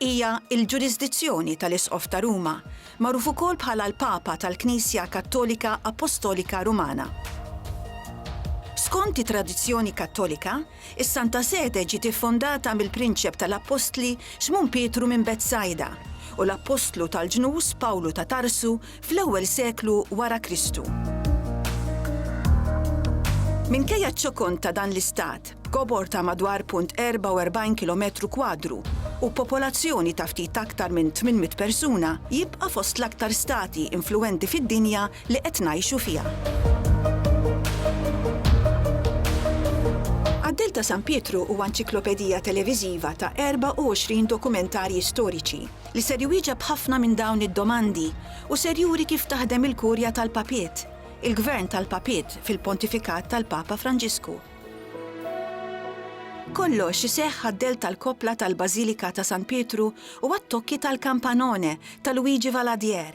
Hija l-ġurisdizzjoni tal-Isqof ta' Ruma, magħruf ukoll bħala l-Papa tal-Knisja Kattolika Appostolika Rumana. Skont it-tradizzjoni Kattolika, is-Santa Sede ġiet iffondata mill-Prinċep tal-Appostli Xmun Pietru minn Betsajda u l-Appostlu tal-Ġnus Pawlu ta' Tarsu fl-ewwel seklu wara Kristu. Minkejja ċ-ċokon ta' dan l-istat, b'kobor ta' madwar 0.44 kilometru kwadru u b'popolazzjoni ta' ftit aktar minn 800 persuna, jibqa' fost l-aktar stati influwenti fid-dinja li qed ngħixu fiha. Qaddil ta' San Pietru huwa nċiklopedija televiżiva ta' 24 dokumentarji storiċi li ser iwieġeb ħafna minn dawn id-domandi u ser juri kif taħdem il-Kurja tal-Papiet, il-Gvern tal-Papiet fil-Pontifikat tal-Papa Franġisku. Kollox iseħħ għad-dell tal-koppla tal-Bażilika ta' San Pietru u għat-tokki tal-kampanone ta' Luigi Valadier,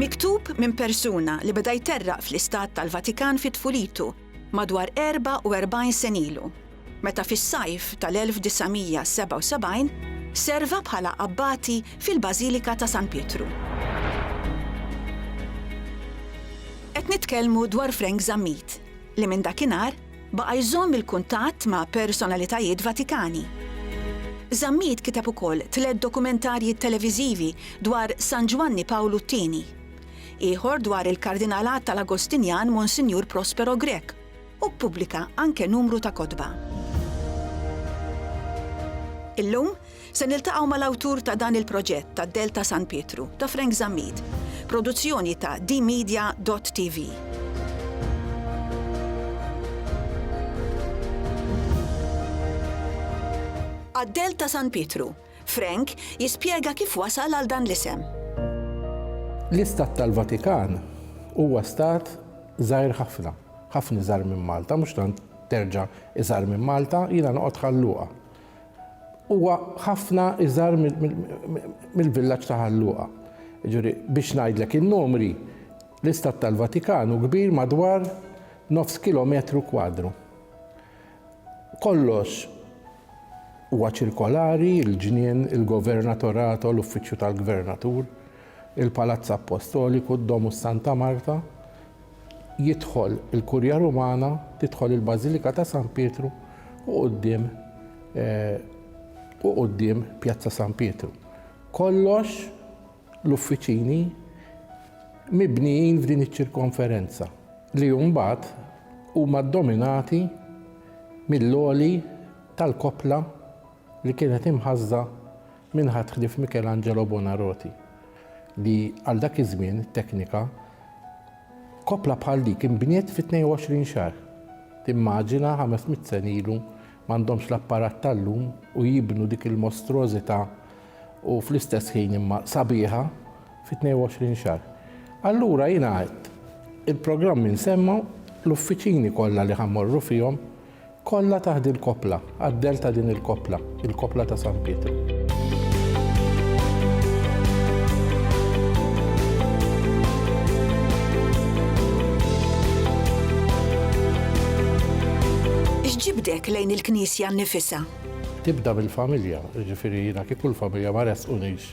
Miktub minn persuna li beda jterraq fl-istat tal-Vatikan fi tfulitu, madwar 44 sen ilu. meta fis-sajf tal-1977 serva bħala abbati fil-Bażilika ta' San Pietru. Qed nitkellmu dwar Frank Zammit, li minn dakinhar baqa' jżomm il-kuntatt ma' personalitajiet Vatikani. Zammit kiteb ukoll tliet dokumentarji televiżivi dwar San Ġwanni Pawlu t-Tieni, ieħor dwar il-Kardinalat tal-Agostinjan Monsinjur Prospero Grech, u ppubblika anke numru ta' kotba. Illum se niltaqgħu mal-awtur ta' dan il-proġett tad-Dell ta' San Pietru, ta' Frank Zammit, produzzjoni ta' dmedia dott TV. Għad-Dell ta' San Pietru, Frank jispjega kif wasal għal dan l-isem. L-Istat tal-Vatikan huwa stat żgħir ħafna. Ħafna iżgħar minn Malta, mhux tant terġa' iżgħar minn Malta, jiena noqgħod Ħal Luqa. Huwa ħafna iżgħar mill-villaġġ ta' Ħal Luqa. Jiġri, biex ngħidlek in-numri, l-Istat tal-Vatikan hu kbir madwar nofs kilometru kwadru. Kollox huwa ċirkolari, il-ġnien, il-Governatorato, l-Uffiċċju tal-Gvernatur, il-Palazz Appostoliku, d-Domus Santa Marta, jidħol il-Kurja Rumana, tidħol il-Bażilika ta' San Pietru u quddiem u quddiem Pjazza San Pietru. Kollox l-uffiċini mibnijin f'din iċ-ċirkonferenza li mbagħad huma ddominati mill-għoli tal-koppla li kienet imħassda minn ħadd ħlief Michelangelo Buonarroti, li għal dak iż-żmien it-teknika koppla bħal dik inbniet fi 22 xahar. Timmaġina ħames mitt sena ilu m'għandhomx l-apparat tal-lum u jibnu dik il-mostruożità u fl-istess ħin imma sabiħa fi 22 xahar. Allura jiena għedt il-programmi nsemma l-uffiċini kollha li ħammorru fihom Kollha taħt il-koppla, għad-dell ta' din il-koppla, il-koppla ta' San Pietru. X'ġibdek lejn il-Knisja nnifisha? Tibda mill-familja, jiġifieri jiena kieku l-familja ma ressqunix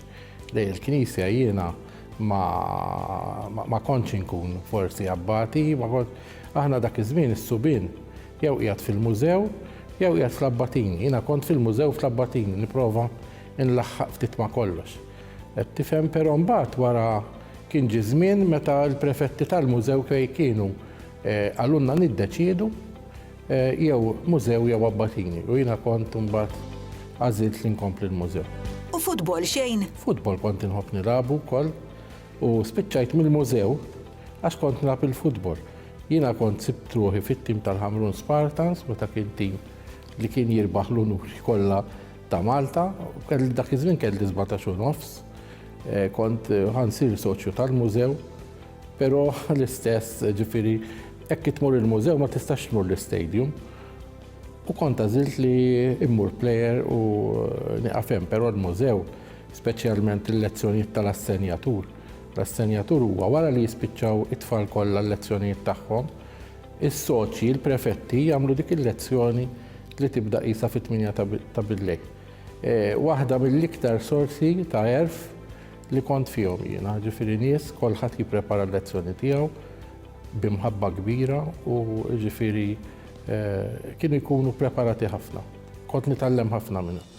lejn il-Knisja jiena ma kontx inkun forsi abbati, Aħna dak iż-żmien is-subien jew qiegħed fil-mużew jew qiegħed fl-Abbatini. Jiena kont fil-mużew fl-Abbatini nipprova nlaħħaq ftit ma' kollox. Qed tifhem però mbagħad wara kien ġie żmien meta l-prefetti tal-mużew fej kienu eh, għalunna niddeċiedu eh, jew mużew jew Abbatini u jiena kont mbagħad għażilt li nkompli l-mużew. U futbol xejn? Futbol kont inħobb nilabu wkoll. U spiċċajt mill-mużew għax kont nilgħab il-futbol. Jiena kont sibt ruħi fit-tim tal-Ħamrun Spartans meta kien tim li kien jirbaħ l-unuri kollha ta' Malta. Kelli dak iż-żmien kelli 17 u nofs. Eh, kont eh, ħansir soċju tal-mużew, pero l-istess ġifiri, ekk tmur il-mużew ma tistax tmur l-stadium. U kont għazilt li immur player u eh, niqafem, pero l-mużew speċjalment il-lezzjonijiet tal-assenjatur. L-assenjatur huwa wara li jispiċċaw it-tfal kollha l-lezzjonijiet tagħhom, is-soċji, il-prefetti jagħmlu dik il-lezzjoni li tibda qisha fit-tminja ta' billejl. E, waħda mill-iktar sorsi ta' erf li kont fihom jiena, ġifieri nies kolħadd jipprepara l-lezzjoni tiegħu bimħabba kbira u ġifieri e, kienu jkunu preparati ħafna. Kont nitgħallem ħafna minnhom.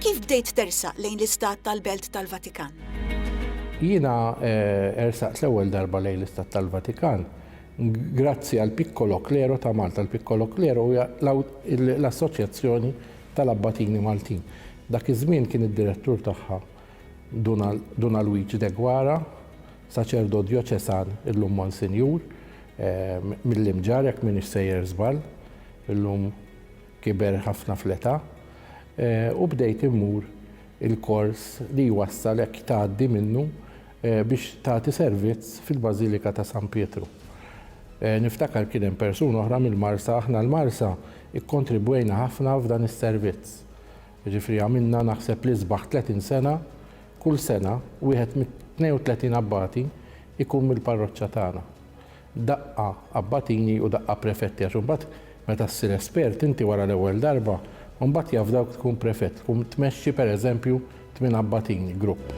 Kif bdejt tersaq lejn l-Istat tal-Belt tal-Vatikan? Jiena eh, ersaqt l-ewwel darba lejn l-Istat tal-Vatikan grazzi għal Piccolo Klero ta' Malta. L-Piccolo Klero hija l-Assoċjazzjoni tal-Abbatini Maltin. Dak iż-żmien kien id-direttur tagħha Duna Luigi Degwara, Saċerdot Djoċesan illum Monsinjur mill-Imġarr jekk m'iniex sejjer żball, illum kiber ħafna fl-età, u bdejt immur il-kors li jwassal hekk tgħaddi minnu biex tagħti servizz fil-Bażilika ta' San Pietru. Niftakar kien hemm persuni oħra mill-Marsa, aħna l-Marsa kkontribwejna ħafna f'dan is-servizz. Jiġifieri għamilna naħseb l-isbaħ 30 sena, kull sena wieħed mit-32 abbati jkun mill-parroċċa tagħna. Daqqa abbatini u daqqa prefetti għax imbagħad meta ssir espert inti wara l-ewwel darba, imbagħad jafdawk tkun prefett, tkun tmexxi pereżempju tmien abbatini, grupp.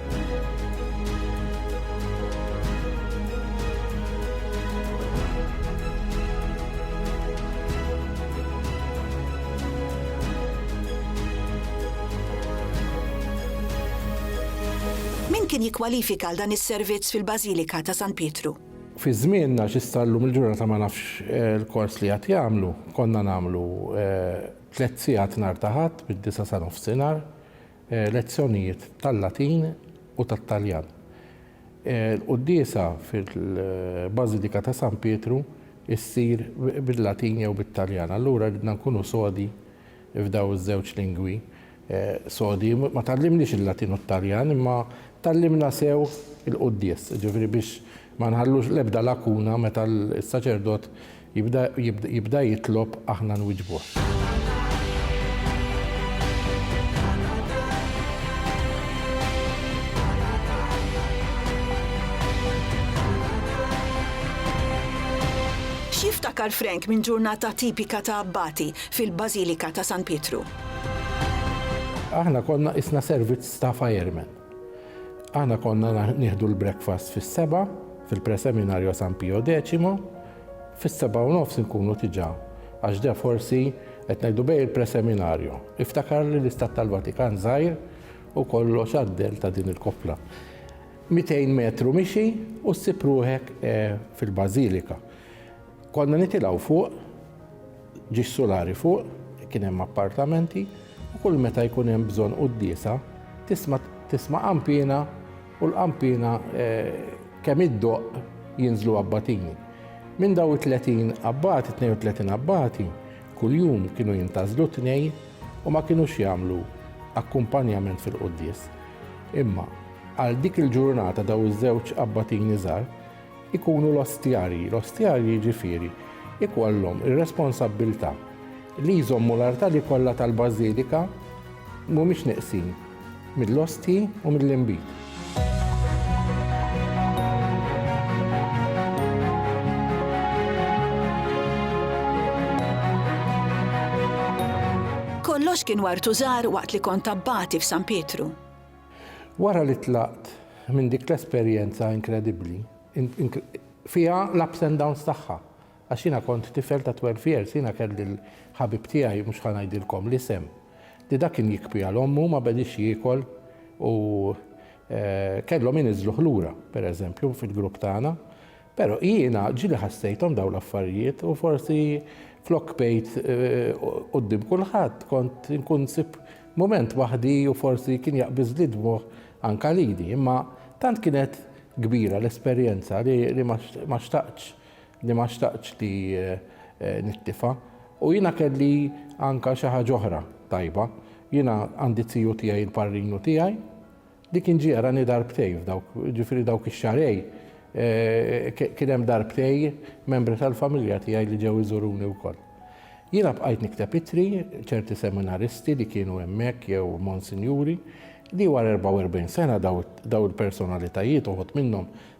Min kien jikkwalifika għal dan is-servizz fil-Bażilika ta' San Pietru? Fi żmienna xi star llum il-ġurnata ma nafx il-kors li qed jagħmlu. Konna nagħmlu tliet sigħat nhar ta' Ħadd mid-disgħa sa nofsinhar, lezzjonijiet tal-Latin u tat-Taljan. Il-quddiesa fil-Bażilika ta' San Pietru ssir bil-Latin jew bit-Taljan. Allura ridna nkunu sodi f'dawn iż-żewġ lingwi sodi. Ma tgħallimniex il-Latin u t-Taljan imma tgħallimna sew il-quddies, jiġifieri biex ma nħallux l-ebda lakuna meta s-saċerdot Jibda, jibda, jibda jitlob aħna nwiġbuh. X'jiftakar Frank minn ġurnata tipika ta' abbati fil-Bażilika ta' San Pietru? Aħna konna qisna servizz ta' firemen. Aħna konna nieħdu l-breakfast fis-seba' fil-Preseminario San Pio Decimo, fis-seba' u nofs inkunu tiġà, għax de forsi qed ngħidu bejn il-Preseminario. Iftakarli l-Istat tal-Vatikan żgħir u kollox għaddel ta' din il-koppla. Mitejn metru mixi u ssib ruħek fil-Bażilika. Konna nitilgħu fuq, ġie s-sulari fuq, kien hemm appartamenti, u kull meta jkun hemm bżonn quddiesa, tisma' tisma' qanpiena u l-qanpiena eh, kemm iddoqq jinżlu abbatini. Minn daw it-30 abbati, 32 abbati, kuljum kienu jintażlu tnej u ma kienux jagħmlu akkumpanjament fil-quddies. Imma għal dik il-ġurnata daw iż-żewġ abbatini żgħar ikunu l-ostjarji. L-ostjarji jiġifieri ikollhom ir-responsabbiltà li jżommu l-artali kollha tal-bażilika mhumiex neqsin mill-ostji u mill-inbid. Kollox kien wartu żgħar waqt li kont abbati f'San Pietru. Wara li tlaqt minn dik l-esperjenza inkredibbli, fiha l-ups and downs tagħha, għax jiena kont tifel ta' twelve years, jiena kelli l-ħabib tiegħi, mhux ħa ngħidilkom l-isem, li dak kien jikbi għal ommu, ma bediex jiekol u kellhom iniżżluh lura, pereżempju, fil-grupp tagħna. Però jiena ġieli ħassejthom dawn l-affarijiet u forsi flok bqejt quddiem kulħadd kont inkun nsib mument waħdi u forsi kien jaqbiżli dmugħ anke lili. Imma tant kienet kbira l-esperjenza li ma xtaqtx li ma xtaqtx li nittifa. U jiena kelli anke xi ħaġa oħra tajba. Jiena għandi t-tiju tiegħi l-parrinu tiegħi Dik inġierani darbtejn f'dawk, ġifieri dawk ix-xarej, kien hemm darbtej membri tal-familja tiegħi li ġew iżuruni wkoll. Jiena bqajt nikteb ittri, ċerti seminaristi li kienu hemmhekk jew monsinjuri, li wara 44 sena daw il-personalitajiet, uħud minnhom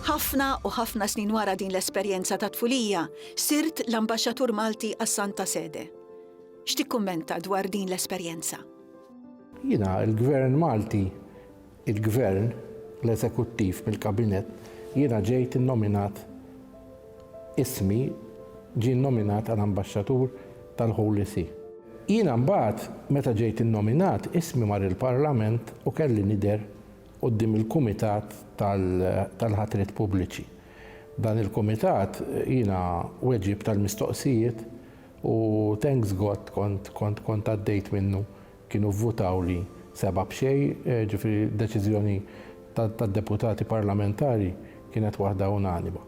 Ħafna u ħafna snin wara din l-esperjenza ta' tfulija, sirt l-Ambaxxatur Malti għas-Santa Sede. X'tikkummenta dwar din l-esperjenza? Jiena, il-Gvern Malti, il-Gvern, l-Eżekuttiv mill-Kabinett, jiena ġejt innominat, ismi ġie nnominat għal Ambaxxatur tal-Holy See. Jiena mbagħad, meta ġejt innominat, ismi mar il-Parlament u kelli nidher quddiem il-Kumitat tal-Ħatriet Pubbliċi. Dan il-Kumitat jiena weġibt għall-mistoqsijiet u thanks God kont kont għaddejt minnu, kienu vvutawli sebgħa b'xejn, ġifieri deċiżjoni tad-Deputati Parlamentari kienet waħda unanima.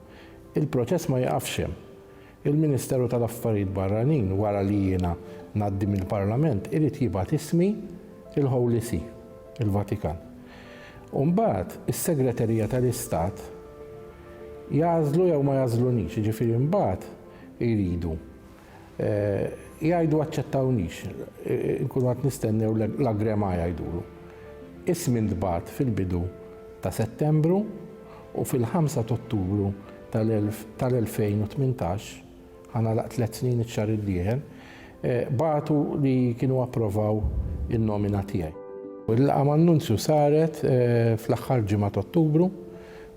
Il-proċess ma jiqafx hemm. Il-Ministeru tal-Affarijiet Barranin wara li jiena ngħaddi mill-Parlament irid jibgħat ismi il-Holy See, il-Vatikan. U mbagħad is-Segreterija tal-Istat jagħżlu jew ma jagħżlunix, jiġifieri mbagħad iridu jgħidu aċċettawnix, inkunu qed nistennew l-agrema jgħidulu. Ismi ntbagħat fil-bidu ta' Settembru, u fil-ħamsa t'Ottubru tal-2018, ħa nagħlaq tliet snin iċ-xahar id-dieħel, bagħtu li kienu approvaw in-nomina tiegħi. Il-laqgħa man-Nunzju saret fl-aħħar ġimgħa t'Ottubru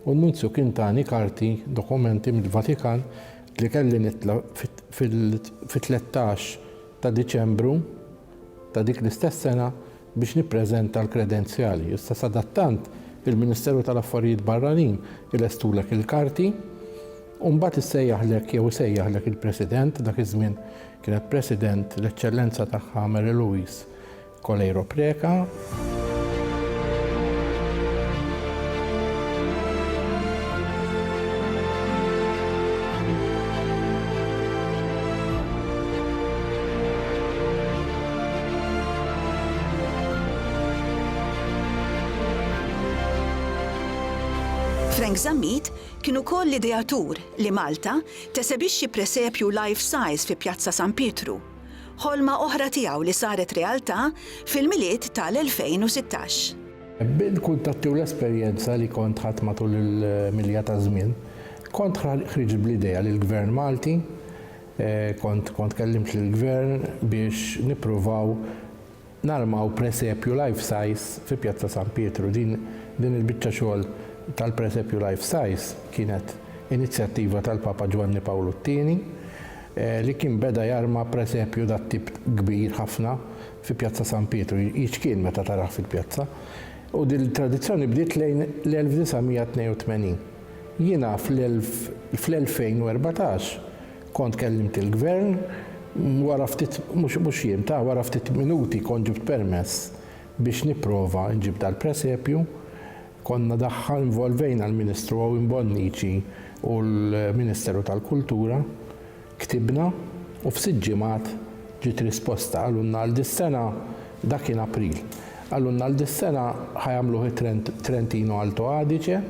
u n-Nunzju kien tani karti, dokumenti mill-Vatikan li kelli nitla' fit-tlettax ta' Diċembru ta' dik l-istess sena, biex nippreżenta l-kredenzjali. Issa sadattant il-Ministeru tal-Affarijiet Barranin ilestulek il-karti u mbagħad issejjaħlek jew isejjaħlek il-President, dak iż-żmien kienet President l-Eċċellenza tagħha Mary Louise Coleiro Preca. Frank Zammit kien ukoll l-ideatur li Malta tesebixxi presepju life size fi Pjazza San Pietru, ħolma oħra tiegħu li saret realtà fil-Milied tal-2016. Bil-kuntatti u l-esperjenza li kont ħadt matul il-milja taż-żmien, kont ħriġt bl-idea li l-Gvern Malti, Kont kont kellimt lill-Gvern biex nippruvaw narmaw presepju life size fi Pjazza San Pietru. Din din il-biċċa xogħol tal-presepju life size kienet inizjattiva tal-Papa Ġwanni Pawlu t-Tieni li kien beda jarma presepju dat-tip kbir ħafna fi Pjazza San Pietru, jiċkien meta tarah fil-pjazza. U din il-tradizzjoni bdiet lejn l-1982. Jiena fl-2014 kont kellimt il-Gvern, wara ftit, mhux jiem, ta, wara ftit minuti kont ġibt permess biex nipprova nġib dal-presepju. Konna daħħal, involvejna l-Ministru Owen Bonnici u l-Ministeru tal-Kultura. Ktibna u f'sitt ġimgħat ġiet risposta. Qalulna għal dis-sena, dak kien April, qalulna għal dis-sena ħa jagħmluh it-Trentino Alto Adige,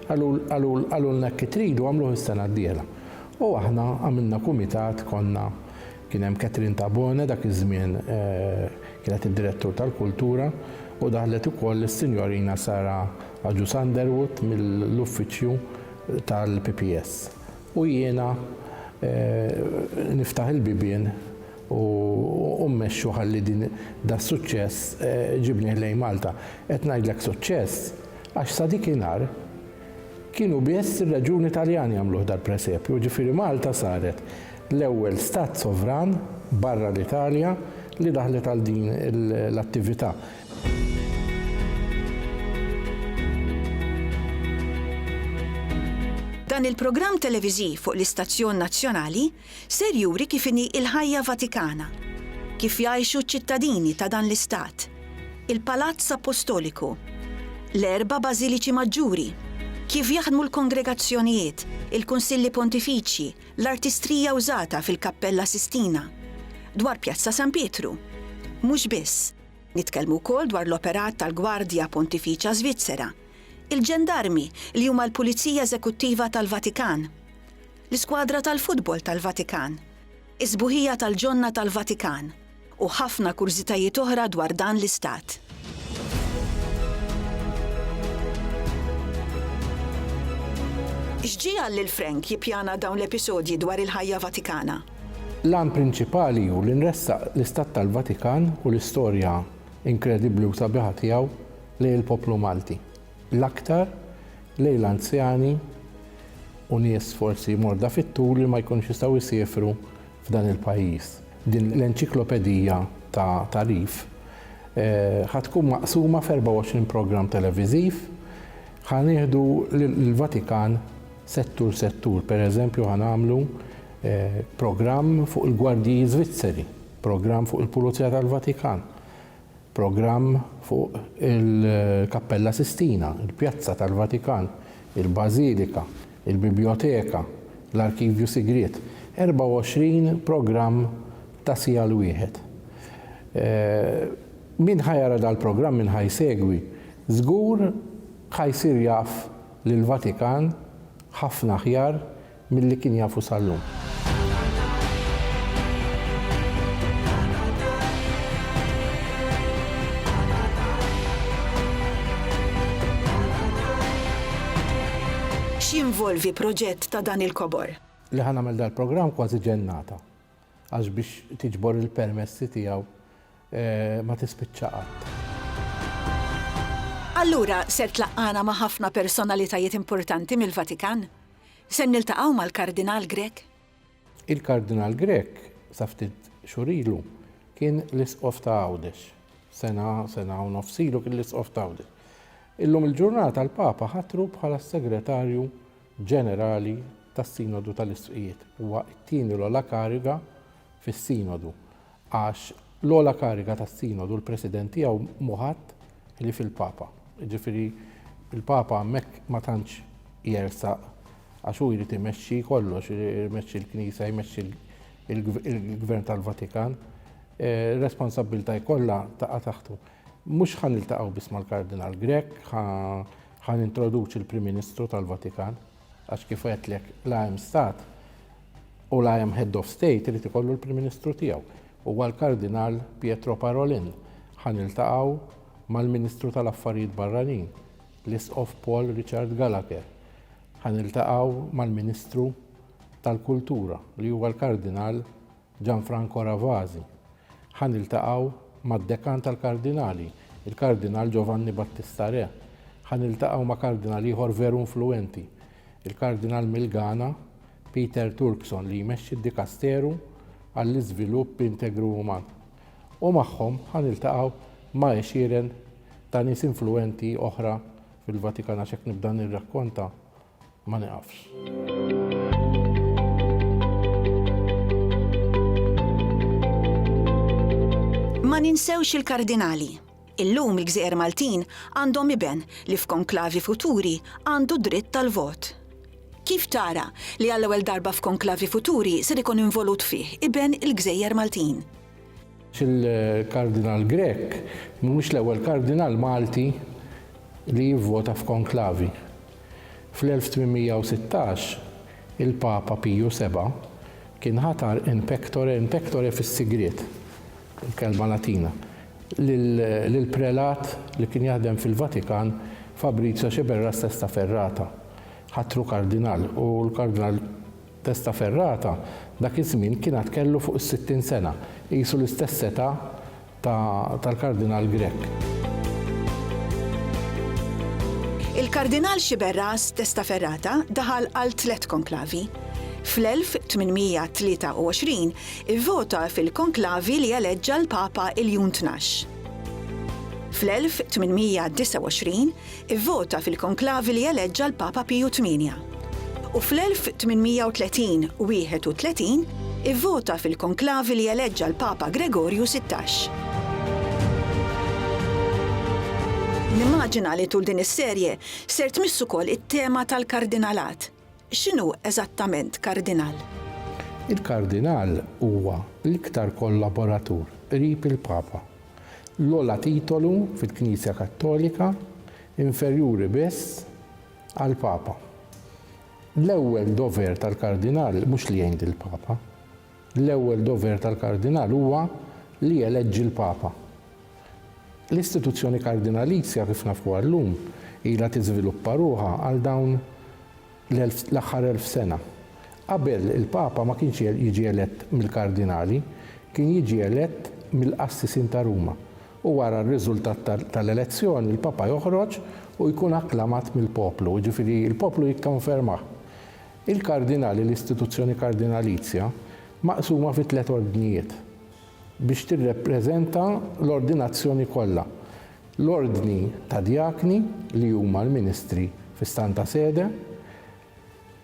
qalulna hekk tridu għamluh is-sena d-dieħla. U aħna għamilna kumitat, konna, kien hemm Catherine Tabone dak iż-żmien kienet id-Direttur tal-Kultura u daħlet ukoll is-Sinjorina Sara Agius Underwood mill-Uffiċċju tal-PPS. U jiena niftaħ il-bibien u mmexxu ħalli din das-suċċess ġibnih lejn Malta. Qed ngħidlek suċċess għax sa dik inhar kienu biss ir-reġjuni Taljani għamluh dal-presepju, ġifieri Malta saret l-ewwel stat sovran barra l-Italja li daħlet għal din l-attività. Dan il-programm televiżiv fuq l-istazzjon nazzjonali ser juri kif inhi l-ħajja Vatikana, kif jgħixu ċ-ċittadini ta' dan l-istat, il-Palazz Appostoliku, l-erba' bażiliċi maġġuri, kif jaħdmu l-kongregazzjonijiet, il-kunsilli pontifiċji, l-artistrija użata fil-Kappella Sistina, dwar Pjazza San Pietru. Mhux biss. Nitkellmu wkoll dwar l-operat tal-Gwardja Pontifiċa Żvizzera, il-ġendarmi li huma l-Pulizija Eżekuttiva tal-Vatikan, l-iskwadra tal-futbol tal-Vatikan, is-sbuħija tal-ġonna tal-Vatikan, u ħafna kurżitajiet oħra dwar dan l-istat. X'ġiegħel lil Frank jippjana dawn l-episodji dwar il-ħajja Vatikana? L-għan prinċipali hu li nressaq l-Istat tal-Vatikan u l-istorja inkredibbli u sabiħa tiegħu lejn il-poplu Malti, l-aktar lejn l-anzjani u nies forsi morda fit-tul li ma jkunux jistgħu jsiefru f'dan il-pajjiż. Din l-enċiklopedija ta' tagħrif ħa tkun maqsuma f'24 programm televiżiv, ħa nieħdu l-Vatikan, Settur settur, per eżempju ħa nagħmlu programm fuq il-gwardji Żvizzeri, programm fuq il-Pulizija tal-Vatikan, programm fuq il-Kappella Sistina, il-Pjazza tal-Vatikan, il-Bażilika, il-Bibljoteka, l-Arkivju Sigriet. 24 programm ta' siegħa 'l wieħed. Min ħa jara dal-programm, min ħa jsegwi, żgur ħa jsir jaf lill-Vatikan ħafna aħjar milli kien jafu sal-lum. X'jinvolvi proġett ta' dan il-kobor? Li ħa nagħmel dal-programm kważi ġennata. għax biex tiġbor il-permessi tiegħu ma tispiċċa qatt. Allura ser tlaqqagħna ma' ħafna personalitajiet importanti mill-Vatikan? Ser niltaqgħu mal-Kardinal Grech? Il-Kardinal Grech sa ftit xhur ilu kien l-Isqof ta' Għawdex. Sena, sena u nofs ilu kien l-Isqof ta' Għawdex. Illum il-ġurnata l-Papa ħatru bħala s-Segretarju Ġenerali tas-Sinodu tal-Isqfijiet. Huwa t-tieni l-ogħla kariga fis-Sinodu, għax l-ogħla kariga tas-Sinodu l-President tiegħu mhu ħadd ħlief il-Papa. Jiġifieri l-Papa hemmhekk ma tantx jersaq għax hu jrid imexxi kollox, imexxi l-Knisja, jmexxi l-Gvern tal-Vatikan. Responsabbiltà kollha taqa' taħtu. Mhux ħa niltaqgħu biss mal-Kardinal Grech, ħa Ħa nintroduċi l-Prim Ministru tal-Vatikan għax kif għedtlek la hemm stat u la hemm head of state irid ikollu l-Prim Ministru tiegħu. Huwa l-Kardinal Pietro Parolin. Ħa niltaqgħu mal-Ministru tal-Affarijiet Barranin, l-Isqof Paul Richard Gallagher. Ħa niltaqgħu mal-Ministru tal-Kultura li huwa l-Kardinal Gianfranco Ravasi, ħa niltaqgħu mad-Dekan tal-Kardinali, il-Kardinal Giovanni Battista Re, ħa niltaqgħu ma' Kardinal ieħor veru influwenti, il-Kardinal mill-Ghana, Peter Turkson li jmexxi d-Dikasteru għall-Iżvilupp Integru Uman. U magħhom ħa niltaqgħu ma' għexieren ta' nies influwenti oħra fil-Vatikan għax hekk nibda nirrakkonta, ma nieqafx. Ma ninsewx il-Kardinali. Illum il-gżejjer Maltin għandhom iben li f'konklavi futuri għandu d-dritt tal-vot. Kif tara li għall-ewwel darba f'konklavi futuri ser ikun involut fih iben il-gżejjer Maltin? Il-Kardinal Grech mhuwiex l-ewwel Kardinal Malti li jivvota f'konklavi. Fl-1816, il-Papa Piju Seba' kien ħatar in pectore, in pectore fis-sigriet, il-kelma Latina, lill-prelat li kien jaħdem fil-Vatikan Fabrizio Sceberras Testa Ferrata. Ħatru kardinal u l-Kardinal. Testa Ferrata dak iż-żmien kien għad kellu fuq is-sittin sena, qisu l-istess età ta' tal-Kardinal Grech. Il-Kardinal Sciberras Testa Ferrata daħal għal tliet konklavi. Fl-1823 ivvota fil-konklavi li eleġġa l-Papa Iljun Tnax. Fl-1829 Ivvota fil-konklavi li eleġġa l-Papa Piju Tmienja. U fl-1830, 31, ivvota fil-konklavi li eleġġa l-Papa Gregorju Sittax. Nimmaġina li tul din is-serje ser tmiss ukoll it-tema tal-kardinalat. X'inhu eżattament kardinal? Il-kardinal huwa l-iktar kollaboratur qrib il-Papa. L-ogħla titolu fil-Knisja Kattolika, inferjuri biss għall-Papa. L-ewwel dover tal-kardinal mhux li jgħin lill-Papa. L-ewwel dover tal-kardinal huwa li jeleġġi l-papa. L-istituzzjoni kardinalizja, kif nafuha llum, ilha tiżviluppa ruħha għal dawn l-aħħar elf sena. Qabel, il-papa ma kienx jiġi elett mill-kardinali, kien jiġi elett mill-qassisin ta' Ruma, u wara r-riżultat tal-elezzjoni l-papa joħroġ u jkun akklamat mill-poplu, jiġifieri l-poplu jikkonfermah. Il-kardinali L-istituzzjoni kardinalizja maqsuma fi tliet ordnijiet biex tirrepreżenta l-ordinazzjoni kollha, l-ordni ta' djakni li huma l-ministri fi Stanta Sede,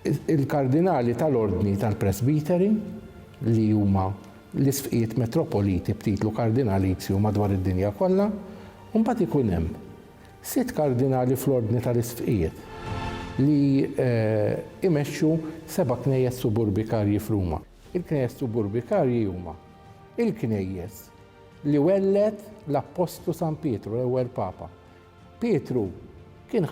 il-kardinali tal-ordni tal-presbiteri li huma l-isqfijiet metropoliti b'titlu kardinalizju madwar id-dinja kollha, u mbagħad ikun hemm Sitt kardinali fl-ordni tal-isqfijiet li jmexxu seba' knejjes suburbikarji f'Ruma. Il-knejjes suburbikarji huma l-knejjes li welled l-appostlu San Pietru, l-ewwel papa. Pietru kien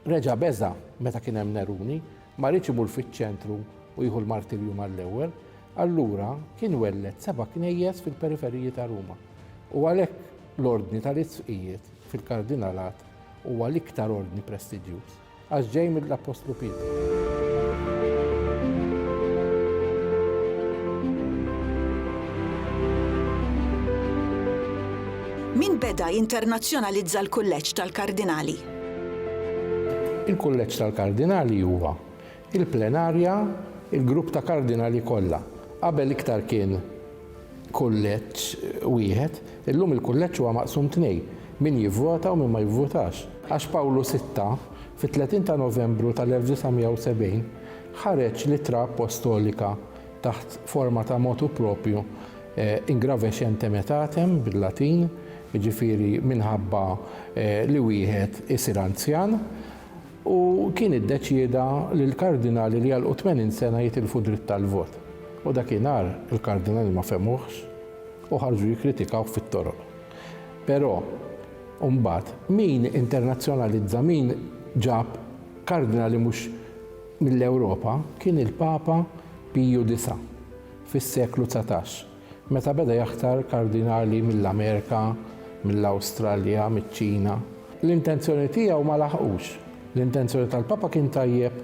reġa' beża' meta kien hemm Neruni, ma riedx imur fiċ-ċentru u jieħu l-martirju mal-ewwel, allura kien welled seba' knejjes fil-periferiji ta' Ruma. U għalhekk l-ordni tal-isqfijiet fil-Kardinalat huwa l-iktar ordni prestiġjuż għax ġej mill-Appostlu Pietru. Min beda jinternazzjonalizza l-Kulleġġ tal-Kardinali? Il-Kulleġġ tal-Kardinali huwa il-plenarja, il-grupp ta' kardinali kollha. Qabel iktar kien kulleġġ wieħed, illum il-kulleġġ huwa maqsum tnejn, min jivvota u min ma jivvotax. Għax Pawlu Sitta, fit-30 ta' Novembru tal-1970, ħareġ l-ittra appostolika taħt forma ta' motu propju, ingravescentem etatem, bil-Latin, jiġifieri minħabba li wieħed isir anzjan, u kien iddeċieda li l-kardinali li jagħlqu 80 sena jitilfu d-dritt tal-vot u dakinhar il-kardinali ma fehmuhx u ħarġu jikkritikawh fit-toroq. Però, mbagħad, min internazzjonalizza, min ġab kardinali mhux mill-Ewropa kien il-Papa Piju Disa' fis-seklu dsatax. Meta beda jaħtar kardinali mill-Amerika, mill-Awstralja, miċ-Ċina. L-intenzjoni tiegħu ma laħqux. L-intenzjoni tal-Papa kien tajjeb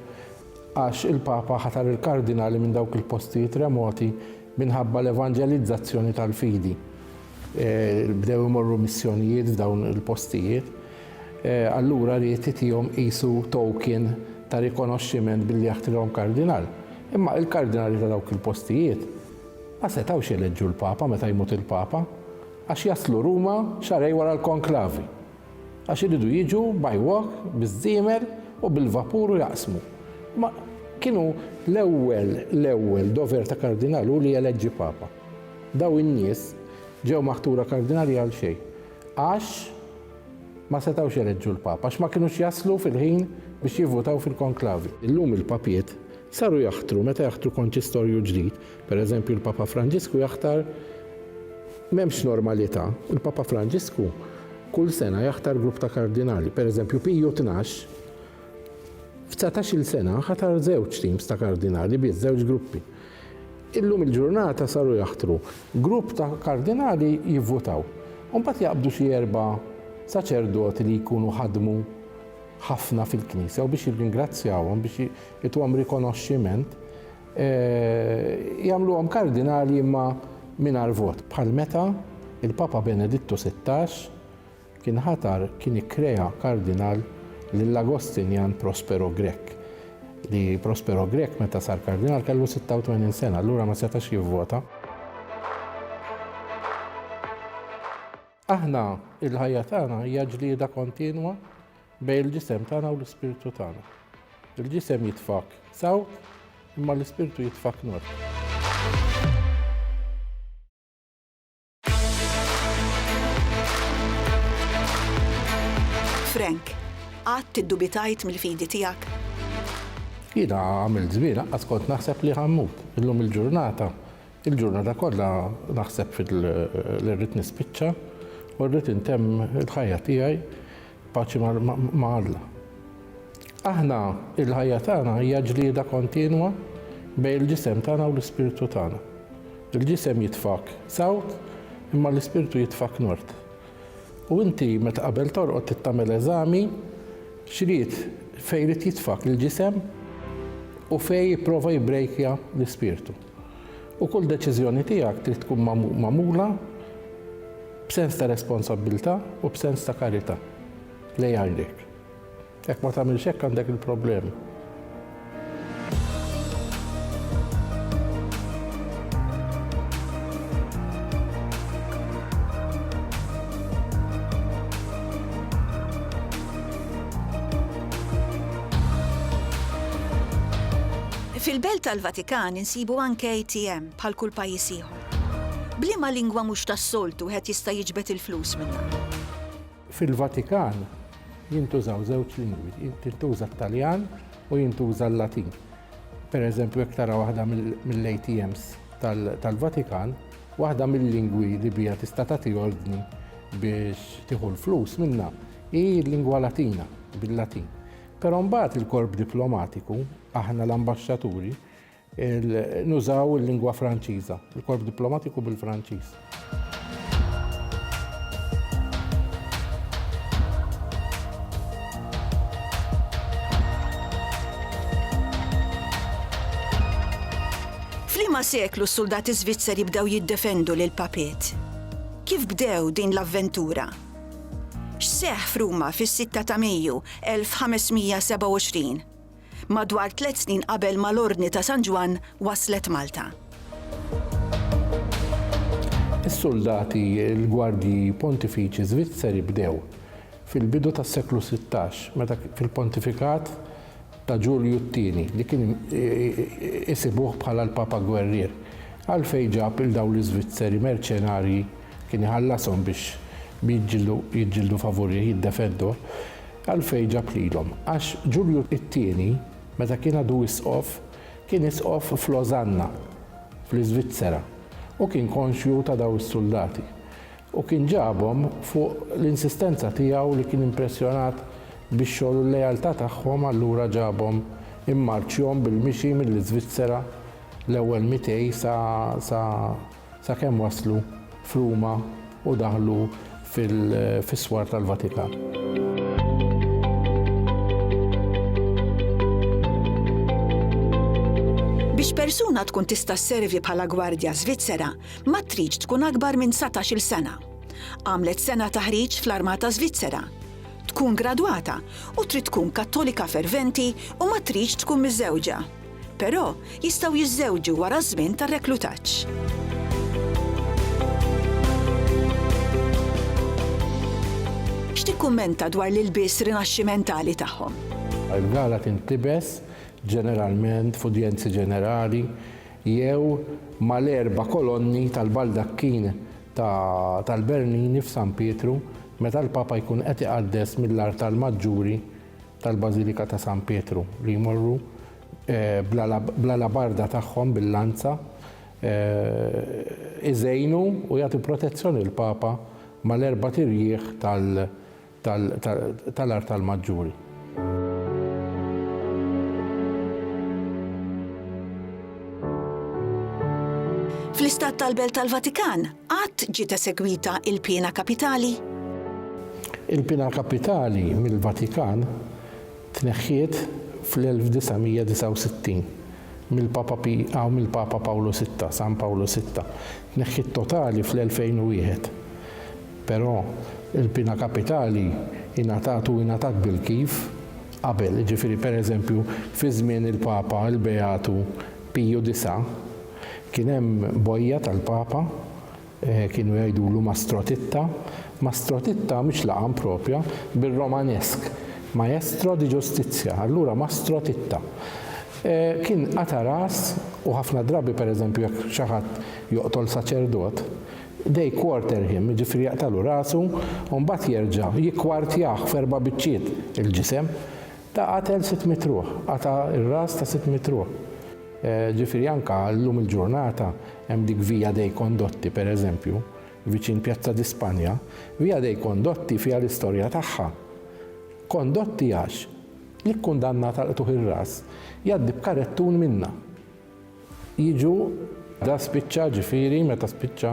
għax il-Papa ħatar il-kardinali minn dawk il-postijiet remoti minħabba l-evanġelizzazzjoni tal-fidi. Bdew imorru missjonijiet f'dawn il-postijiet. Allura ried itihom qisu token ta' rikonoxximent billi jaħtrihom kardinal. Imma il-kardinali ta' dawk il-postijiet Ma setgħux jeleġġu l-Papa meta jmut il-Papa għax jaslu Ruma xahrejn wara l-konklavi. Għax iridu jiġu by walk, biż-żiemel u bil-vapur u jaqsmu. Ma kienu. L-ewwel, l-ewwel dover ta' Kardinal hu li jeleġġi Papa. Dawn in-nies ġew maħtura Kardinali għal xejn. Għax ma setgħux jeleġġu l-Papa. Għax ma kinux jaslu fil-ħin biex jivvutaw fil-konklavi. Illum il-Papiet Saru jaħtru, meta jaħtru konċistorju ġdid, per eżempju l-Papa Franġisku jaħtar m'hemmx normalità, il-Papa Franġisku kull sena jaħtar grupp ta' kardinali, per eżempju Piju Tnax f'dsatax-il sena ħatar żewġ teams ta' kardinali biss, żewġ gruppi. Illum il-ġurnata saru jaħtru grupp ta' kardinali jivvutaw u mbagħad jaqbdu xi erba' saċerdoti li jkunu ħadmu ħafna fil-Knisja u biex jirringrazzjawhom biex ituhom rikonoxximent, jagħmluhom kardinali imma mingħajr vot, bħal meta l-Papa Benedittu Sittax kien ħatar, kien ikkrea kardinal lil Agostinjan Prospero Grech, li Prospero Grech meta sar kardinal kellu 86 sena, allura ma setax jivvota. Aħna, il-ħajja tagħna hija ġlieda kontinwa bejn il-ġisem tagħna u l-ispirtu tagħna. Il-ġisem jitfak sawt, imma l-ispirtu jitfak nur. Frank, qatt iddubitajt mill-fidi tiegħek? Jiena għamil żmien aqqas kont naħseb li ħammut. Illum il-ġurnata Il-ġurnata kollha naħseb fil-li rrid nispiċċa u rrid intemm il-ħajja tiegħi paċi ma' Alla. Aħna il-ħajja tagħna hija ġlieda kontinwa bejn il-ġisem tagħna u l-ispirtu tagħna. Il-ġisem jitfak sawt imma l-ispirtu jitfak nord. U inti meta qabel torqod tittamel eżami xrid fejn jrid jitfak l-ġisem u fejn jipprova jibbrejkja l-ispirtu. U kull deċiżjoni tiegħek trid tkun magħmula b'sens ta' responsabbiltà u b'sens ta' karità lejn għajnejk. Jekk ma tagħmilx hekk għandek il-problema. Fil-Belt tal-Vatikan insibu anke ATM bħal kull pajjiż ieħor. B'liema lingwa mhux tas-soltu wieħed jista' jiġbed il-flus minnha? Fil-Vatikan jintużaw żewġ lingwi, jintuża t-Taljan u jintuża l-Latin. Pereżempju jekk tara waħda mill-ATMs tal-Vatikan, waħda mill-lingwi li biha tista' tagħti ordni biex tieħu l-flus minnha hi l-lingwa Latina bil-Latin. Però mbagħad il-korp diplomatiku Aħna l-ambaxxaturi nużaw il-lingwa Franċiża, il-korp diplomatiku bil-Franċiż. F'liema seklu s-suldati Svizzeri bdew jiddefendu lil papiet? Kif bdew din l-avventura? X'seħħ f'Ruma fis-6 ta' Mejju 1527? madwar tliet snin qabel ma l-Ordni ta' San Ġwann waslet Malta. Is-suldati, il-gwardji pontifiċi Żvizzeri bdew fil-bidu tas-seklu sittax meta fil-pontifikat ta' Ġulju t-Tieni li kien isibuh bħala l-Papa Gwerrier. Għalfejn ġab 'il dawn l-Iżvizzeri merċenarji kien iħallashom biex jiġġieldu favurih, jiddefenduh? Għalfejn ġab lilhom? Għax Ġulju t-Tieni, meta kien għadu isqof, kien isqof f'Lożanna, fl-Iżvizzera, u kien konxju ta' dawn is-suldati. U kien ġabhom fuq l-insistenza tiegħu li kien impressjonat bix-xogħol u l-lealtà tagħhom allura ġabhom immarċjhom bil-mixi mill-Iżvizzera l-ewwel mitej sa sakemm waslu f'Ruma u daħlu fis-swar tal-Vatikan. Biex persuna tkun tista' sservi bħala gwardja Svizzera, ma tridx tkun akbar minn 19-il sena. Għamlet sena taħriġ fl-Armata Svizzera. Tkun gradwata u trid tkun kattolika ferventi u ma tridx tkun miżewġa. Però, jistgħu jiżżewġu wara ż-żmien tar-reklutaġġ. X'tikkummenta dwar l-ilbies Rinaxximentali tagħhom? Il-gala tintlibes ġeneralment f'udjenzi ġenerali jew mal-erba' kolonni tal-baldakkin tal-Bernini f'San Pietru meta l-Papa jkun qed iqaddes mill-artal maġġuri tal-Bażilika ta' San Pietru li jmorru bl-alabarda tagħhom bil-lanza iżejnu u jagħtu protezzjoni lill-Papa mal-erbat irjieħ tal-artal maġġuri. Fl-Istat tal-Belt tal-Vatikan, Qatt ġiet esegwita l-piena kapitali? Il-piena kapitali mill-Vatikan tneħħiet fl-1969 mill-Papa Pi aw mill-Papa Pawlu Sitta, San Pawlu Sitta. Tneħħiet totali fl-2001. Però il-piena kapitali ingħatat u ingħatat bil-kif qabel, jiġifieri pereżempju fi żmien il-Papa il-Beatu Piju disa' Kien hemm bojja tal-Papa kienu jgħidulu Mastro Titta, Mastro Titta mhix laqam proprja, bir-Romanesk, Maestro di Giustizia, allura Mastro Titta. Kien qata' ras u ħafna drabi pereżempju jekk xi ħadd joqtol saċerdot, they quarter him, jiġifieri jaqtgħalu rasu u mbagħad jerġa' jikkwartjah f'erba' biċċiet il-ġisem Ta' qatel sitt mitt ruħ, qata' r-ras ta' sitt mitt ruħ. Ġifieri anke llum il-ġurnata hemm dik Via dei Condotti, per eżempju, viċin Piazza di Spagna. Via dei Condotti fiha l-istorja tagħha. Condotti għax l-ikkundannat għal qtugħ ir-ras jgħaddi b'karettun minnha. jiġu da spiċċa ġifieri meta spiċċa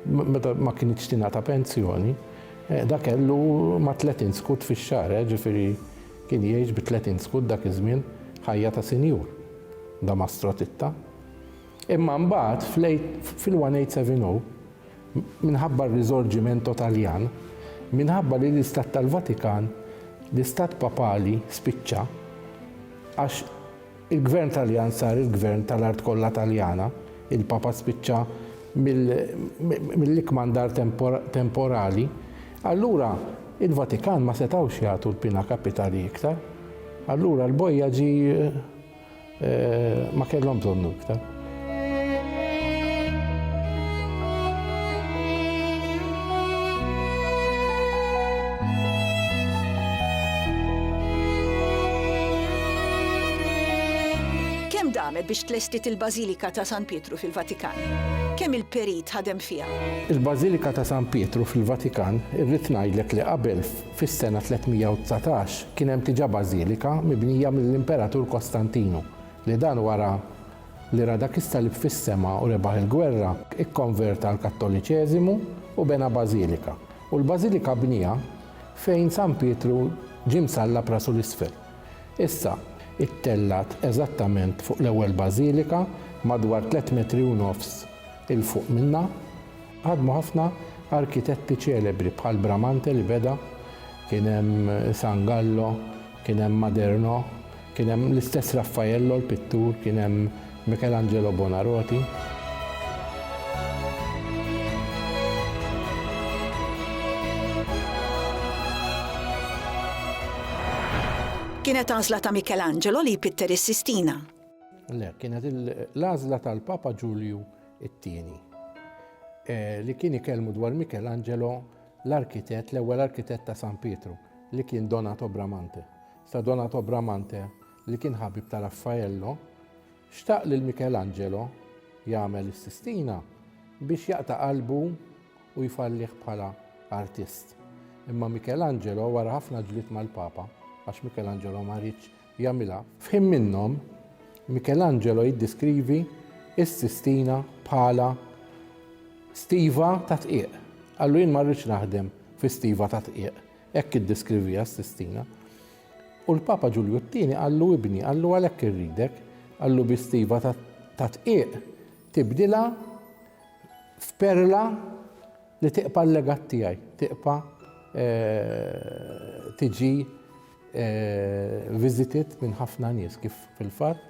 meta ma kienx tingħata pensjoni, eh, da kellu ma' 30 skut fix-xahar, eh, ġifieri kien jgħix bi 30 skut dak iż-żmien ħajja ta' sinjur. Da mastro titta. Imma mbagħad fil-1870 minħabba r-riżorġimento Taljan, minħabba li l-Istat tal-Vatikan, l-Istat Papali spiċċa għax Il-Gvern Taljan sar il-Gvern tal-art kollha Taljana, il-Papa spiċċa mill-ikkmandar temporali, allura il-Vatikan ma setgħux jagħtu l-pina kapitali iktar. Allura l-bojja ġie ma kellhom bżonnu iktar. damet biex tlestit il-Bażilika ta' San Pietru fil-Vatikan? Kemm il-perit ħadem fiha? Il-Bażilika ta' San Pietru fil-Vatikan irrid ngħidlek li qabel fis-sena 319 kien hemm diġà bażilika mibnija mill-Imperatur Kostantinu li dan wara li ra dak is-salib fis-sema u rebaħ il-gwerra, ikkonverta għall-Kattoliċeżimu u bena bażilika, u l-bażilika bnieha fejn San Pietru ġie msallab rasu 'l isfel. Issa, ittellgħet eżattament fuq l-ewwel bażilika, madwar tliet metri u nofs 'il fuq minnha, ħadmu ħafna arkitetti ċelebri bħal Bramante li beda, kien hemm San Gallo, kien hemm Maderno, Kien hemm l-istess Raffaello l-pittur, kien hemm Michelangelo Buonarroti. Kienet għażla ta' Michelangelo li jpitter is-Sistina. Le, kienet l-għażla tal-Papa Ġulju it-tieni eh, li kien ikellmu dwar Michelangelo l-arkitett, l-ewwel arkitett ta' San Pietru, li kien Donato Bramante. Sa Donato Bramante, li kien ħabib ta' Raffaello, xtaq lil Michelangelo jagħmel is-Sistina biex jaqta' qalbu u jfallih bħala artist. Imma Michelangelo wara ħafna ġlied mal-Papa, għax Michelangelo ma riedx jagħmilha, f'ħin minnhom Michelangelo jiddeskrivi s-Sistina bħala stiva ta' dqiq. Qallu jien ma rridx naħdem fi stiva ta' dqiq. Hekk iddeskriviha s-Sistina. U l-Papa Ġulju t-Tieni qallu ibni, qallu għalhekk irridek, qallu bi stiva ta' tqiegħ tibdilha f'perla li tiqpa' l-legat tiegħi, tiqpa' eh, tiġi eh, visited minn ħafna nies kif fil-fatt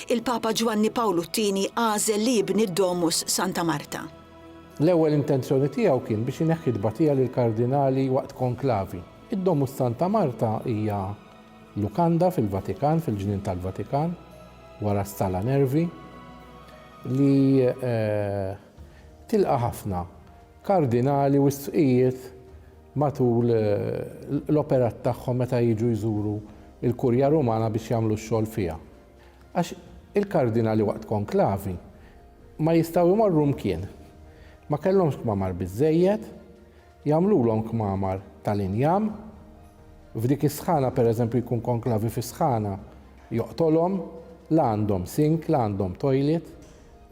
Il-Papa Ġwanni Pawlu t-Tieni għażel li jibni d-Domus Santa Marta. L-ewwel intenzjoni tiegħu kien biex ineħħi t-tbatija lill-kardinali waqt konklavi. Id-Domus Santa Marta hija lukanda fil-Vatikan, fil-Ġnien tal-Vatikan, wara s-Sala Nervi, li tilqa' ħafna kardinali u sqfijiet matul l-operat tagħhom meta jiġu jżuru l-Kurja Rumana biex jagħmlu x-xogħol fiha. Għax il-kardinali waqt konklavi ma jistgħu jmorru mkien. Ma kellhomx kmamar biżżejjed, jagħmlulhom kmamar tal-injam, f'dik is-sħana pereżempju jkun konklavi fi sħana joqtolhom, la għandhom sink, la għandhom toilet,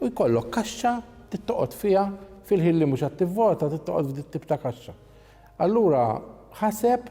u jkollok kaxxa trid toqgħod fiha fil-ħin li mhux qed tivvota trid toqgħod f'dit-tip ta' kaxxa. Allura ħaseb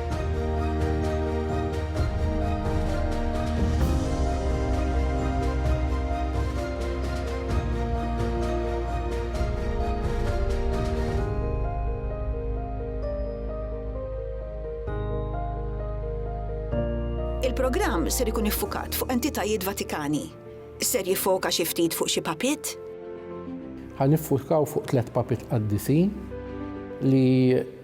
Il-programm ser ikun iffukat fuq entitajiet Vatikani. Ser jiffoka xi ftit fuq xi papiet? Ħa niffukaw fuq tliet papiet qaddisin li.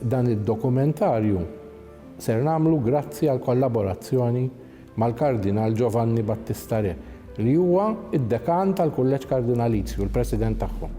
Dan id-dokumentarju ser nagħmlu grazzi għall-kollaborazzjoni mal-Kardinal Giovanni Battista Re, li huwa d-Dekan tal-Kulleġġ Kardinalizju u l-President tagħhom.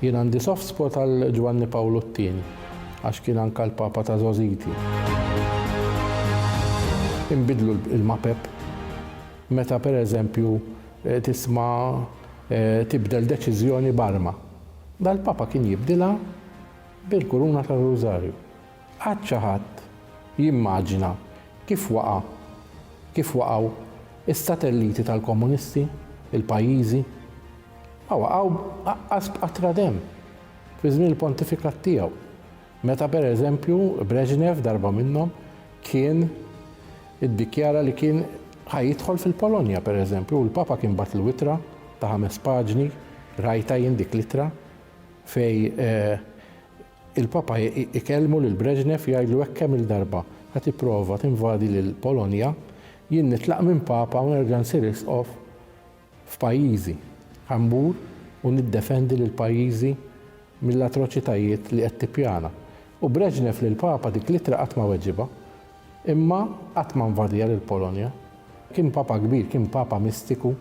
Jien għandi soft spot għal Ġwanni Pawlu t-Tieni, għax kien anka l-Papa ta' żgħożiti. Inbidlu l-mapep meta per eżempju tisma' tibdel deċiżjoni b'arma. Dal-Papa kien jibdilha bil-kuruna tar-Rużarju. Qatt xi ħadd jimmaġina kif waqa', kif waqgħu s-satelliti tal-komunisti, il-pajjiżi? Ma waqgħu aqqas b'qatra demm fi żmien il-pontifikat tiegħu, meta per eżempju Brezhnev darba minnhom kien iddikjara li kien ħa jidħol fil-Polonja per eżempju u l-Papa kien bagħatlu ittra ta' ħames paġni, rajtha jien dik l-ittra, fejn Il-Papa jkellmu lil Brezhnev jgħidlu hekk kemm-il darba, Ħa tipprova tinvadi lil Polonja, jien nitlaq minn Papa u nerġa' nsir Isqof f'pajjiżi. Ħa mmur u niddefendi lil pajjiżi mill-atroċitajiet li qed tippjana. U Brezhnev lill-Papa dik l-ittra qatt ma weġibha. Imma qatt ma nvadiha lill-Polonja. Kien Papa kbir, kien Papa mistiku.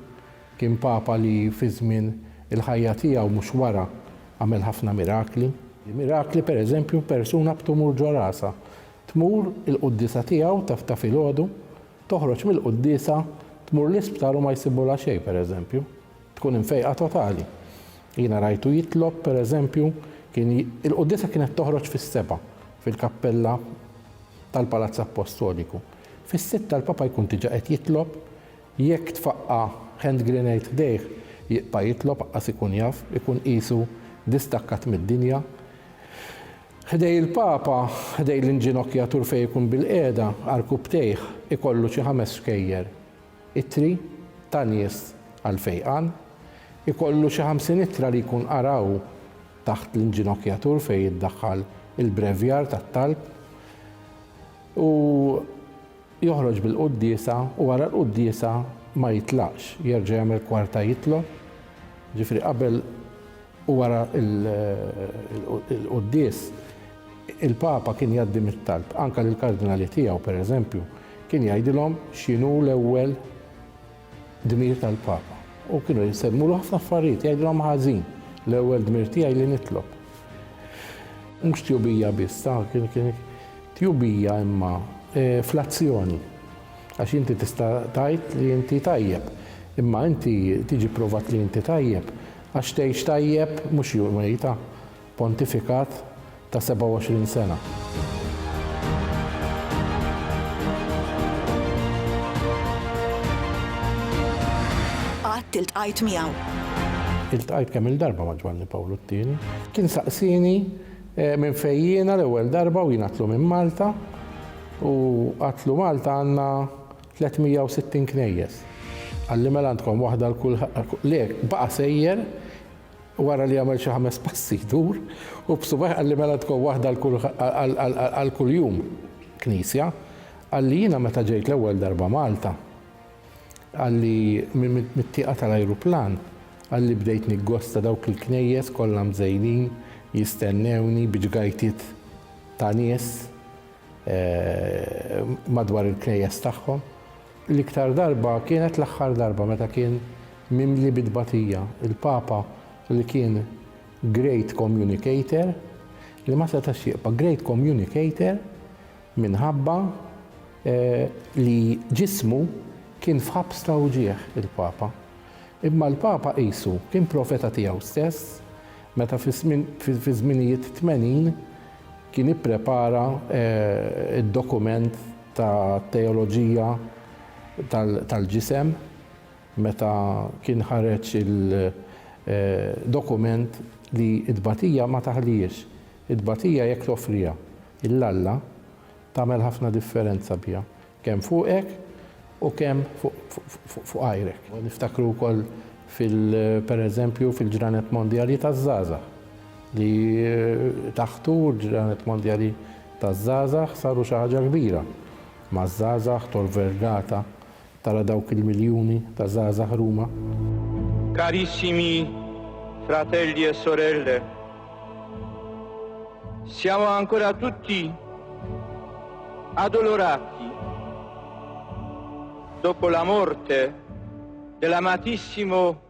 Kien Papa li fi żmien il-ħajja tiegħu, mhux wara, għamel ħafna mirakli. Mirakli, per eżempju, persuna b'tumur ġo rasha tmur il-quddiesa tiegħu ta' ta' filgħodu, toħroġ mill-quddiesa, tmur l-isptar u ma jsibulha xejn, per eżempju. Tkun imfejqa totali. Jiena rajtu jitlob, per eżempju, kien il-quddiesa kienet toħroġ fis-sebgħa fil-kappella tal-Palazz Appostoliku. Fis-sitta l-Papa jkun diġà qed jitlob, Jekk tfaqqa' hand grenade ħdejh, jiqta' jitlob aqqas ikun jaf, ikun qisu distakkat mid-dinja. Ħdej il-Papa, ħdej l-inġinokjatur fejn ikun bilqiegħda, għarkupptejh, ikollu xi ħames xkejjer. Ittri ta' nies għall-fejqan. Ikollu xi ħamsin ittra li jkun qara hu taħt l-inġinokjatur fejn jiddaħħal il-brevjar tat-talb. U. Joħroġ bil-quddiesa u wara l-quddiesa ma jitlaqx, jerġa' jagħmel kwarta jitlob, ġifieri qabel u wara l-quddies il-Papa kien jgħaddi mit-talb anke lill-Kardinali tiegħu pereżempju, kien jgħidilhom x'inhu l-ewwel Dmir tal-Papa. U kienu jsemmulu ħafna affarijiet, jgħidilhom ħażin, l-ewwel dmir tiegħi li nitlob. Mhux tjubija biss, tjubija imma fl-azzjoni. Għax inti tista' tgħid li inti tajjeb, imma inti tiġi pprovat li inti tajjeb għax tgħix tajjeb mhux jum wejta. Pontifikat ta' 27 sena. qatt iltqajt miegħu. Iltqajt kemm-il darba ma' Ġwanni Pawlu t-Tieni. Kien saqsieni eh, minn fejn jiena l-ewwel darba u jien għatlu minn Malta u għatlu Malta għandna 360 knejjes. Għalli mela għandkom waħda l-kull le baqa' sejjer u wara li għamel xi ħames passi jdur u b'subgħajh qalli mela tkun waħda għal kuljum knisja, qalli jiena meta ġejt l-ewwel darba Malta, qalli mit-tieqa tal-ajruplan, qalli bdejt niggosta dawk il-knejjes kollha mżejnin jistennewni bi ġgajtiet ta' nies madwar il-knejjes tagħhom. L-iktar darba kienet l-aħħar darba meta kien mimli bi tbatija, il-Papa li kien great communicator, li ma setax jibqa' great communicator minħabba li ġismu kien f'ħabs ta' wġigħ il-Papa. Imma l-Papa qisu kien profeta tiegħu stess meta fiż-żminijiet tmenin kien ipprepara d-dokument, ta' Teoloġija tal-Ġisem meta kien ħareġ il-dokument li t-tbatija ma taħlihiex. It-tbatija jekk toffriha 'l Alla tagħmel ħafna differenza biha kemm fuqek u kemm fuq għajrek. Niftakru wkoll fil-, pereżempju, fil-Ġranet Mondjali taż-Żgħażagħ. li taħtu l-Ġranet Mondjali taż-Żgħażagħ saru xi ħaġa kbira maż-żgħażagħ, Tor Vergata tara dawk il-miljuni ta' żgħażagħ Ruma. Carissimi fratelli e sorelle, siamo ancora tutti addolorati dopo la morte dell'amatissimo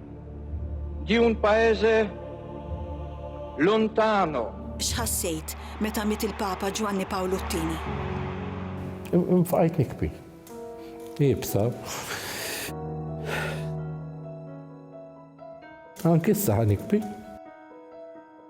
di un paese lontano. X'ħassejt meta miet il-Papa Ġwanni Pawlu t-Tieni? Nfqajt nikbi. Iebsa. Anki issa ħa nikbi.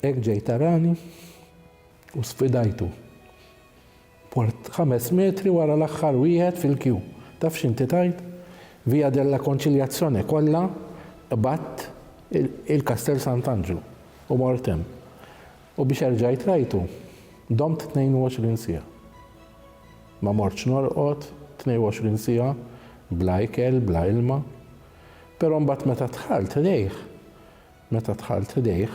Hekk ġej tarani u sfidajtu. Mort ħames metri wara l-aħħar wieħed fil-kju. Taf x'inti tgħid? Via della Conciliazione kollha qbadt il-Kastell Sant'Anġlu u mort hemm. U biex erġajt rajtu, domt 22 siegħa. Ma mortx norqod 22 siegħa bla ikel, bla ilma. Però mbagħad meta dħalt lejh, Meta dħalt ħdejh,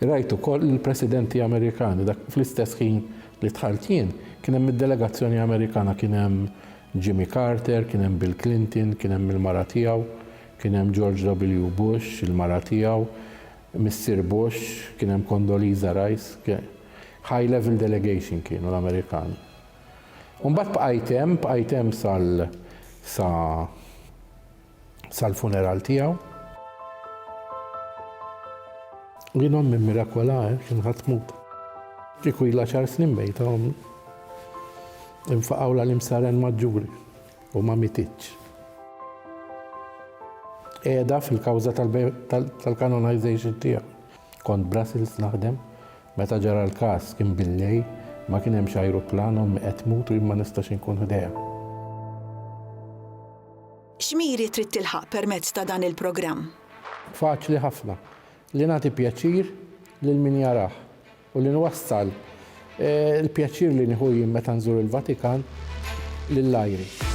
rajt ukoll lill-Presidenti Amerikani, dak fl-istess ħin li dħalt jien, kien hemm mid-delegazzjoni Amerikana, kien hemm Jimmy Carter, kien hemm Bill Clinton, kien hemm il-mara tiegħu, kien hemm George W. Bush, il-mara tiegħu, missier Bush, kien hemm Condoleezza Rice, high level delegation kienu l-Amerikani. U mbagħad bqajt hemm, bqajt hemm sal, sa, sal-funeral tiegħu. U jien ommi mirakola, eh, kien ħadd tmut. Kieku ilha xar snin mejta ommi. Infaqawla l-imsaren maġġuri u ma mititx. Qiegħda fil-kawża tal-canonization tiegħu. Kont Brussels naħdem, meta ġara l-każ kien billej, ma kien hemmx ajruplan ommi qed tmut u jien ma nistax inkun ħdejha. X'miri trid tilħaq permezz ta' dan il-programm? Faċli ħafna li nagħti pjaċir lil min jarah u li nwassal il-pjaċir li nieħu jien meta nżur il-Vatikan lil għajri.